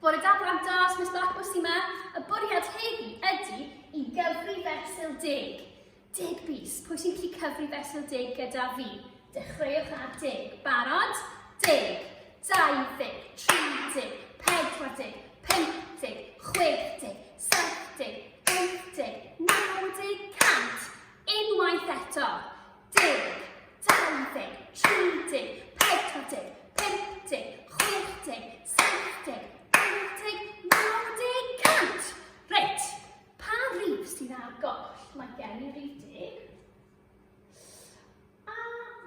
Bore da blant da, os Miss Blackwood sy'n ma, y bwriad heddi ydy i gyfri fesul deg. Deg bus, pwy sy'n gallu cyfri fesul deg gyda fi? Dechreuwch ar deg. Barod? Deg, dau ddeg, tri deg, pedwar deg, pump deg, chwech deg, saith deg, wyth deg, naw deg, cant. Unwaith eto. deg, dau ddeg, tri deg, pedwar deg, pump deg, chwech deg, saith deg, wyth deg, naw deg, cant! Reit, pa rif sydd ar goll? Mae gen i rif deg. A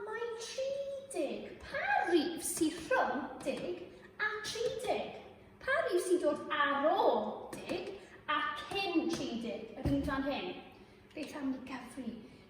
mae tri deg. Pa rif sydd rhwng deg a tri deg? Pa rif sy'n dod ar ôl deg a cyn tri deg? Yr un fan hyn. Beth am ni gyfri?